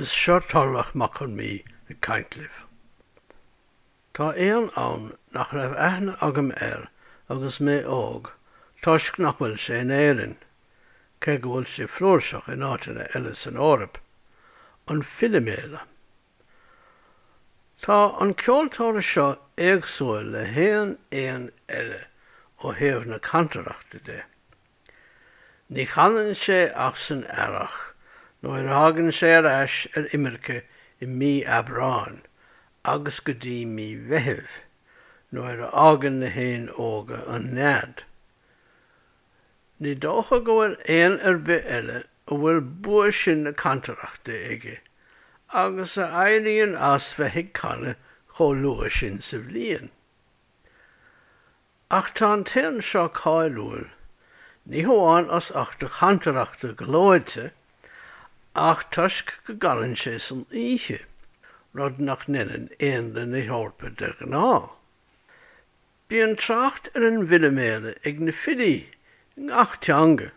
Is seo Tarlach Mac Con Mí ag caint libh. Tá éan ann nach raibh aithne agam air agus mé óg toisc nach bhfuil sé in Éirinn, cé go bhfuil sé flúirseach in áiteanna eile san Eoraip, an filiméala. Tá an ceoltóir seo éagsúil le haon éan eile ó thaobh na cantaireachta de. Ní chanann sé ach san earrach nuair a thagann sé ar ais ar imirce i mí Aibreáin agus go dtí mí Mheithimh nuair a fhágann na héin óga an nead. Ní dócha go bhfuil éan ar bith eile a bhfuil bua sin na cantaireachta aige agus a éiríonn as bheith ag canadh chomh luath sin sa bhliain. Ach tá an t-éan seo cáiliúil, ní hamháin as ucht a chantaireachta gleoite, ach toisc go gcanann sé san oíche, rud nach ndeineann éanlaith na hEorpa de ghnáth. Bíonn trácht ar an bhfiliméala ag na filí i ngach teanga,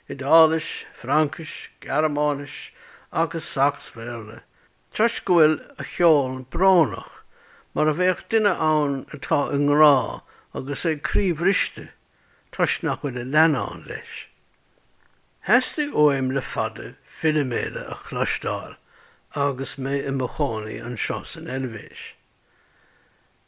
Iodáilis, Fraincis, Gearmáinis agus Sacs-Bhéarla, toisc go bhfuil a cheol brónach, mar a bheadh duine ann atá i ngrá agus é croíbhriste toisc nach bhfuil a leannán leis. Theastaigh uaim le fada filiméala a chloisteáil agus mé i mo chónaí anseo san Eilvéis.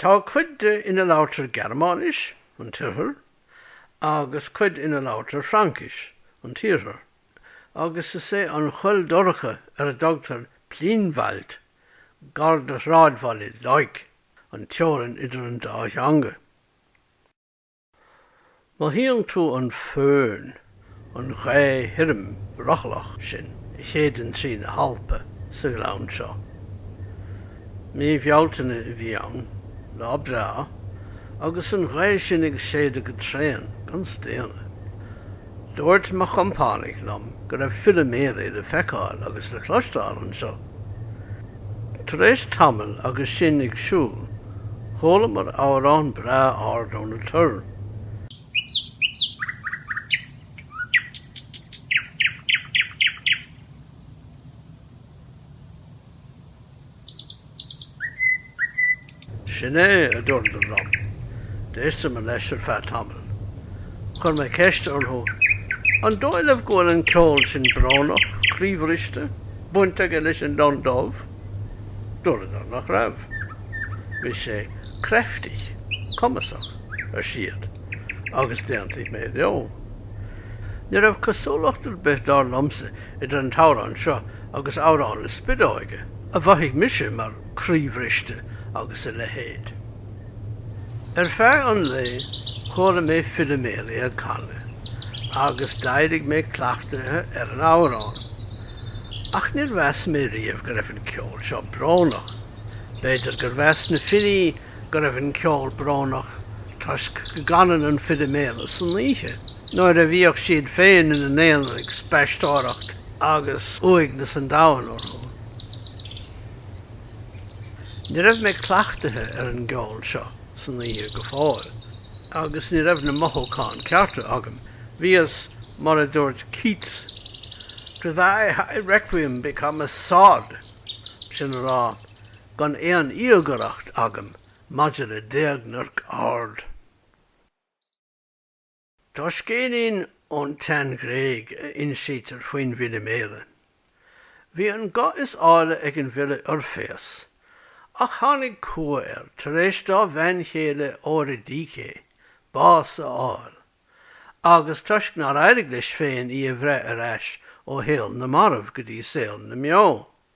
Tá cuid de ina labhairtear Gearmáinis, an tOirthear, agus cuid ina labhairtear Fraincis, an tIarthar, agus is é an choill dhorcha ar a dtugtar Pfynwald, gar do shráidbhaile Leuk, an teorainn idir an dá theanga. Mothaíonn tú an föhn, an ghaoth thirim rothlach sin a shéideann trí na hAlpa, sa ghleann seo. Mí Bhealtaine a bhí ann, lá breá, agus an ghaoth sin ag séideadh go tréan, gan staonadh. Dúirt mo chompánaigh liom go raibh filiméala le feiceáil agus le cloisteáil anseo. Tar éis tamaill agus sinn ag siúl, chualamar amhrán breá ard ó na toir. Sin é, a dúirt an lon. D'éisteamar leis ar feadh tamaill. Chuir mé ceist orthu, An dóigh libh go bhfuil an ceol sin brónach, croíbhriste, baint aige leis an lon dubh? Dúradar nach raibh. Bhí sé kräftig, cumasach, ar siad, agus d'aontaigh mé leo. Ní raibh cosúlacht ar bith, dar liomsa, idir an t-amhrán seo agus amhrán na spideoige, a mhothaigh mise mar croíbhriste agus a leithéid. Ar feadh an lae, chuala mé filiméala ag canadh, agus d'éirigh mé cleachtaithe ar an amhrán. Ach níor mheas mé riamh go raibh an ceol seo brónach. B'fhéidir gur mheas na filí go raibh an ceol brónach toisc go gcanann an filiméala san oíche nuair a bhíodh siad féin ina n-aonar ag spaisteoireacht agus uaigneas an domhain orthu. Ní raibh mé cleachtaithe ar an gceol seo san oíche go fóill agus ní raibh na mothúcháin cearta agam. Bhíos, mar a dúirt Keats, 'to thy high requiem become a sod', sin a rá, gan aon íogaireacht agam maidir le d'éagnairc ard. Tá scéilín ón tSean-Ghréig a insítear faoin bhfiliméala. Bhí an guth is áille ag an bhfile Oirféas, ach tháinig cumha air tar éis dá bhean chéile Eoiridícé bás a fháil, agus toisc nár éirigh leis féin í a bhreith ar ais ó shaol na marbh go dtí saol na mbeo.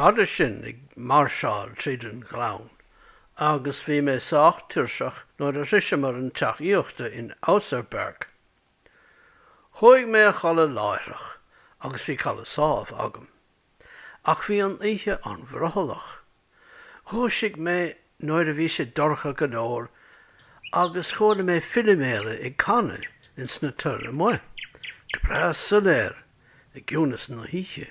B'fhada sinn ag máirseáil tríd an ghleann agus bhí mé sách tuirseach nuair a shroicheamar an teach aíochta in Ausserberg. Chuaigh mé a chodladh láithreach agus bhí codladh sámh agam. Ach bhí an oíche an-bhrothallach. Dhúisigh mé nuair a bhí sé dorcha go leor agus chuala mé filiméala ag canadh ins na toir amuigh, go breá soiléir i gciúnas na hoíche.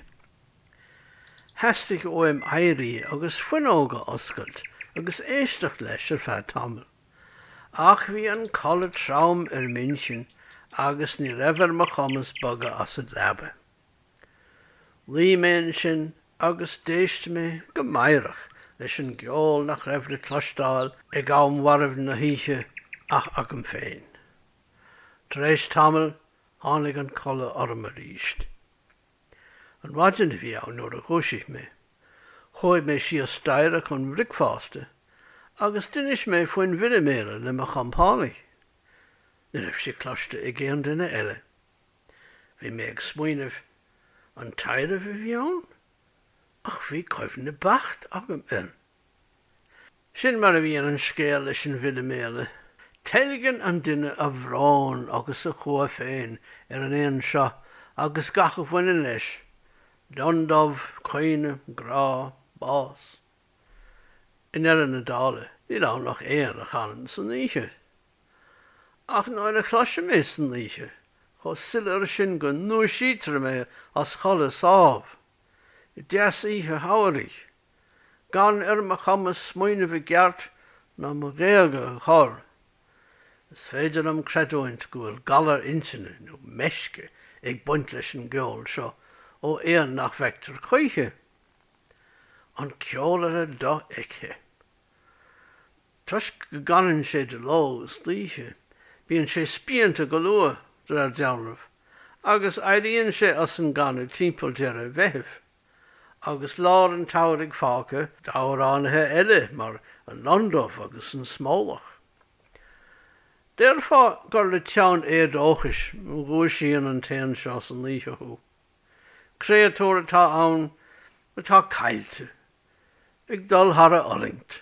Theastaigh uaim éirí agus fuinneog a oscailt agus éisteacht leis ar feadh tamaill. Ach bhí an codladh trom ar m'intinn agus ní raibh ar mo chumas bogadh as an leaba. Luigh mé ansin agus d'éist mé go meidhreach leis an gceol nach raibh le cloisteáil ag am mharbh na hoíche ach agam féin. Tar éis tamaill, tháinig an codladh orm arís. An mhaidin a bhí ann nuair a dhúisigh mé. Chuaigh mé síos staighre chun bhricfeásta agus d'inis mé faoin bhfiliméala le mo chompánaigh. Ní raibh sé cloiste ag aon duine eile. Bhí mé ag smaoineamh, an taibhreamh a bhí ann? Ach bhí cuimhne beacht agam air. Sin mar a bhíonn an scéal leis an bhfiliméala. Teilgeann an duine a bhrón agus a chumha féin ar an éan seo agus gach a bhaineann leis, lionn dubh, caoineadh, grá, bás. I ndeireadh na dála. níl ann ach éan a chanann san oíche. Ach nuair a chloisim é san oíche, chomh soiléir sin go ndúisítear mé as codladh sámh, i dteas oíche shamhraidh, gan ar mo chumas smaoineamh i gceart ná mo ghéaga a chor. Is féidir liom creidiúint go bhfuil galar intinne nó meisce ag baint leis an gceol seo ó éan nach bhfeictear choíche. An ceolaire dofheicthe. Toisc go gcanann sé de ló is d'oíche, bíonn sé spíonta go luath, de réir dealraimh, agus éiríonn sé as an gcanadh timpeall deireadh Mheithimh. Agus lár an tsamhraidh fágtha d'amhránaithe eile mar an lon dubh agus an smólach, déarfá gur le teann éadóchais a dhúisíonn an t-éan seo san oíche thú. Créatúr atá ann atá caillte, ag dul thar a fhulaingt.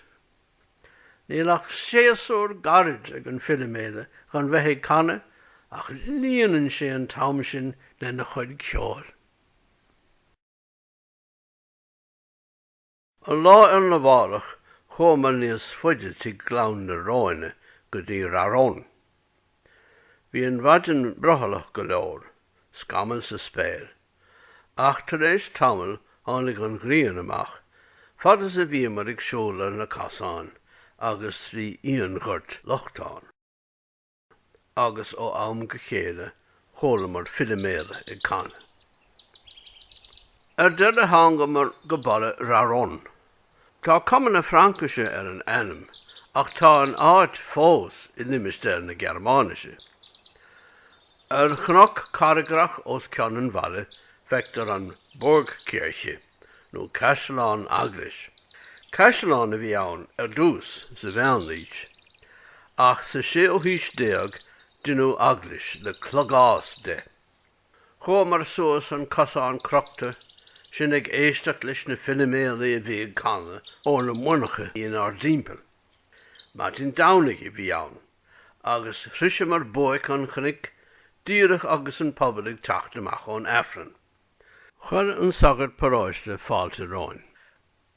Níl ach séasúr gairid ag an filiméala chun bheith ag canadh ach líonann sé an t-am sin lena chuid ceoil. An lá arna mhárach chuamar níos faide trí Ghleann na Róine go dtí Raron. Bhí an mhaidin brothallach go leor, scamaill sa spéir, ach tar éis tamaill tháinig an ghrian amach fad is a bhíomar ag siúl ar na casáin agus trí fhíonghort lochtán. agus ó am go chéile chualamar filiméala ag canadh. Ar deireadh thángamar go baile Raron. Tá cuma na Fraincise ar an ainm ach tá an áit fós i limistéar na Gearmáinise. Ar chnoc carraigreach os cionn an bhaile Feictear an Burgkirche, nó caisleán eaglais. Caisleán a bhí ann ar dtús, sa mheánaois, ach sa séú haois déag deineadh eaglais le clogás de. Chuamar suas an cosán crochta, sinn ag éisteacht leis na filiméalaí a bhí ag canadh ó na muineacha inár dtimpeall. Maidin Domhnaigh a bhí ann. agus shroiseamar buaic an chnoic díreach agus an pobal ag teacht amach ón Aifreann. Chuir an sagart paróiste fáilte romhainn.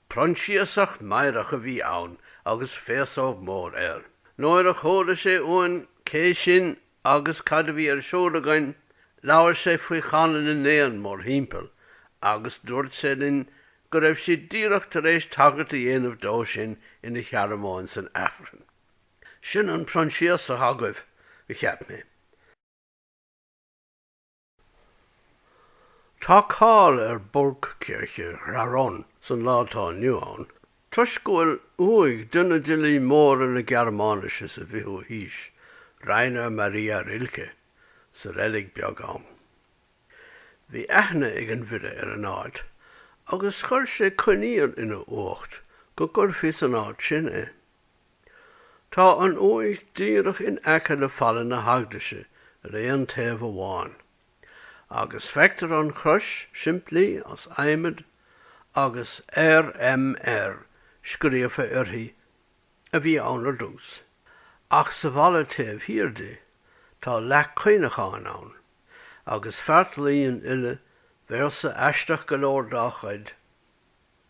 Proinsiasach meidhreach a bhí ann agus féasóg mhór air. Nuair a chuala sé uainn cé sinn agus cad a bhí ar siúl againn, labhair sé faoi chanadh na n-éan mórthimpeall agus dúirt sé linn go raibh sé díreach tar éis tagairt a dhéanamh dó sin ina shearmóin san Aifreann. Sin an Proinsiasach agaibh, a cheap mé. Tá cáil ar Burgkirche Raron san lá atá inniu ann toisc go bhfuil uaigh duine d'fhilí móra na Gearmáinise sa bhfichiú haois, Rainer Maria Rilke, sa reilig bheag ann. Bhí aithne ag an bhfile ar an áit, agus chuir sé coinníoll ina uacht go gcuirfí san áit sin é. Tá an uaigh díreach in aice le falla na heaglaise ar an taobh amháin, agus feictear an chrois simplí as adhmad agus RMR scríofa uirthi a bhí ann ar dtús, ach sa bhfalla taobh thiar di, tá leac cuimhneacháin ann, agus feartlaoi an fhile, véarsa aisteach go leor dá chuid.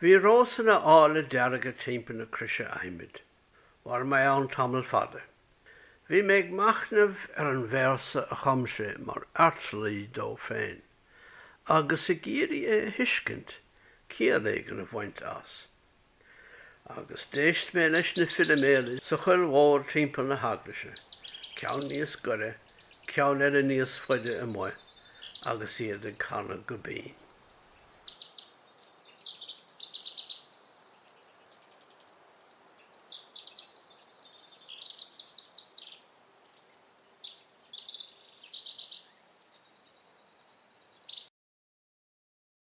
Bhí rósanna áille dearga timpeall na croise adhmaid. Mhair mé ann tamall fada. Bhí mé ag machnamh ar an véarsa a chum sé mar fheartlaoi dó féin, agus ag iarraidh é a thuiscint, ciall éigin a bhaint as. agus d'éist mé leis na filiméala sa choill mhór timpeall na heaglaise, ceann níos gaire, ceann eile níos faide amuigh, agus iad ag canadh go binn.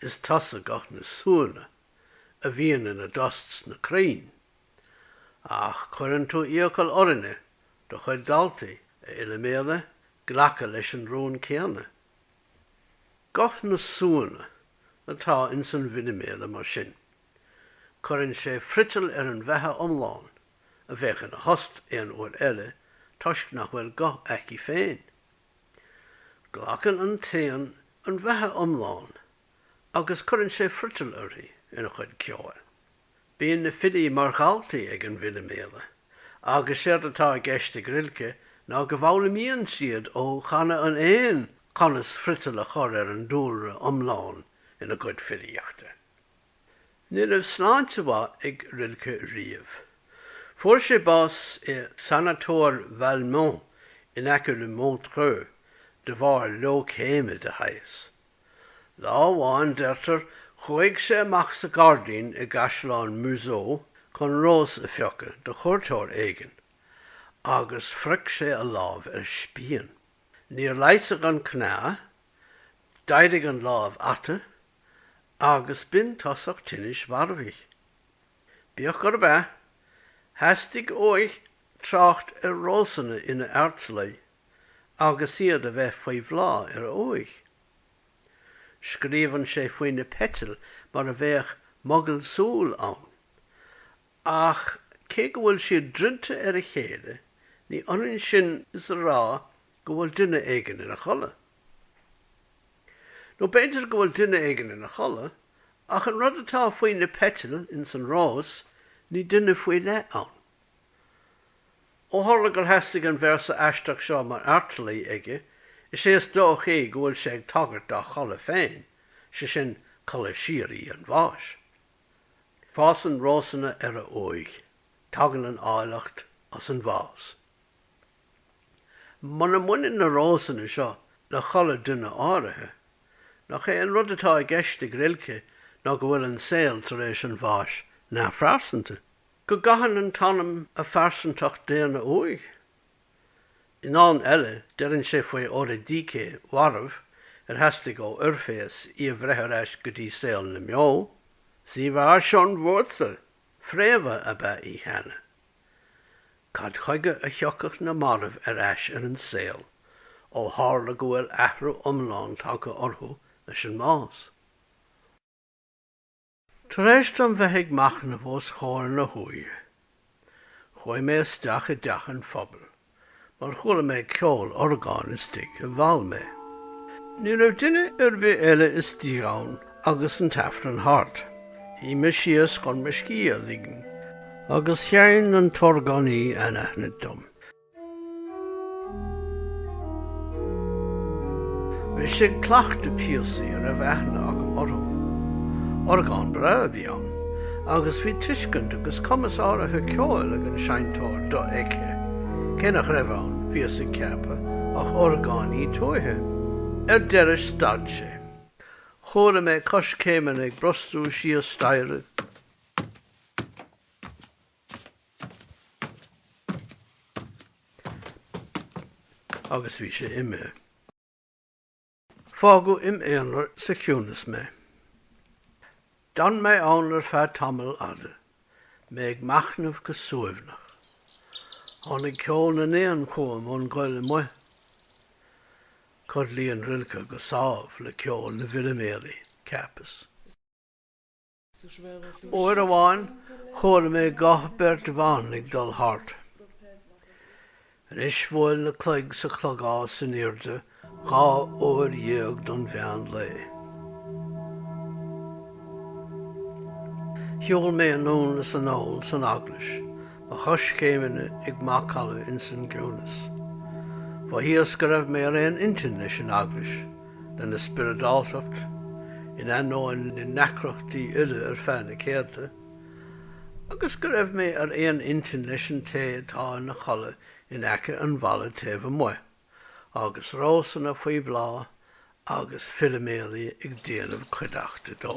Is tusa guth na súnna a bhíonn ina dtost sna crainn. Ach cuireann tú iachall orainne, do chuid daltaí, a Fhiliméala, glacadh leis an rún céanna. Guth na súnna atá ins an bhfiliméala mar sin. Cuireann sé friotal ar an bheatha iomlán a bheadh ina thost aon uair eile toisc nach bhfuil guth aici féin. Glacann an t-éan an bheatha iomlán agus cuireann sé friotal uirthi ina chuid ceoil. Bíonn na filí mar dhaltaí ag an bhfiliméala, agus séard atá i gceist ag Rilke ná go bhfoghlaimíonn siad ó chanadh an éin conas friotal a chur ar an dúlra iomlán ina gcuid filíochta. Ní raibh sláinte mhaith ag Rilke riamh. Fuair sé bás i Sanatóir Valmont in aice le Montreux de bharr leoicéime de shaghas. Lá amháin, deirtear, chuaigh sé amach sa gairdín i gCaisleán Meuzot chun rós a phiocadh do chuairteoir éigin, agus phrioc sé a lámh ar spíon. Níor leigheasadh an cneá, d'éirigh an lámh ata, agus b'in tosach tinnis mharfaigh. Bíodh gurb ea, theastaigh uaidh trácht ar rósanna ina fheartlaoi agus iad a bheith faoi bhláth ar a uaigh. Scríobhann sé faoi na peitil mar a bheadh mogaill súl ann, ach cé go bhfuil siad druidte ar a chéile, ní ionann sin is a rá go bhfuil duine éigin ina chodladh. Nó b'fhéidir go bhfuil duine éigin ina chodladh, ach an rud atá faoi na peitil ins an rós, ní duine faoi leith ann. Ó tharla gur theastaigh an véarsa aisteach seo mar fheartlaoi aige, is é is dóichí go bhfuil sé ag tagairt dá chodladh féin, sé sin, codladh síoraí an bháis. Fásann rósanna ar a uaigh. Tagann an áilleacht as an bhás. Muna mbaineann na rósanna seo le codladh duine áirithe, nach é an rud atá i gceist ag Rilke ná go bhfuil an saol tar éis an bháis neamhphearsanta? Go gcaitheann an t-anam a phearsantacht daonna uaidh? I ndán eile, deireann sé faoi Eoridícé mharbh ar theastaigh ó Oirféas í a bhreith ar ais go dtí saol na mbeo, 'Sie war schon Wurzel, fréamha ab ea í cheana. Cad chuige a thiocfadh na mairbh ar ais ar an saol, ó tharla go bhfuil athrú iomlán tagtha orthu leis an mbás? Tar éis dom bheith ag machnamh os comhair na huaighe, chuaigh mé isteach i dteach an phobail. mar chuala mé ceol orgáin istigh a mheall mé. Ní raibh duine ar bith eile istigh ann agus an tAifreann thart. Shuigh mé síos chun mo scíth a ligean agus sheinn an t-orgánaí anaithnid dom. Bhí sé ag cleachtadh píosaí a raibh aithne agam orthu. Orgán breá a bhí ann. agus bhí tuiscint agus cumas áirithe ceoil ag an seinnteoir dofheicthe, cé nach raibh ann, bhíos ag ceapadh, ach orgánaí tuaithe. Ar deireadh stad sé. Chuala mé coiscéimeanna ag brostú síos staighre. agus bhí sé imithe. Fágadh im' aonar sa chiúnas mé. D'fhan mé ann ar feadh tamaill fhada, mé ag machnamh go suaimhneach. Tháinig ceol na n-éan chugam ón gcoill amuigh. Codlaíonn Rilke go sámh le ceol na bhfiliméalaí, ceapas. Uair amháin chuala mé guth beirt bhan ag dul thart. Anois bhuail na cloig sa chlogás in airde dhá uair dhéag don mheán lae. Shiúil mé anonn is anall san eaglais, mo choiscéimeanna ag macalla ins an gciúnas. Mhothaíos go raibh mé ar aon intinn leis an eaglais. lena spioradáltacht, in ainneoin na ndeacrachtaí uile ar feadh na céadta, agus go raibh mé ar aon intinn leis an té atá ina chodladh in aice an bhalla taobh amuigh, agus rósanna faoi bhláth agus filiméalaí ag déanamh cuideachta dó.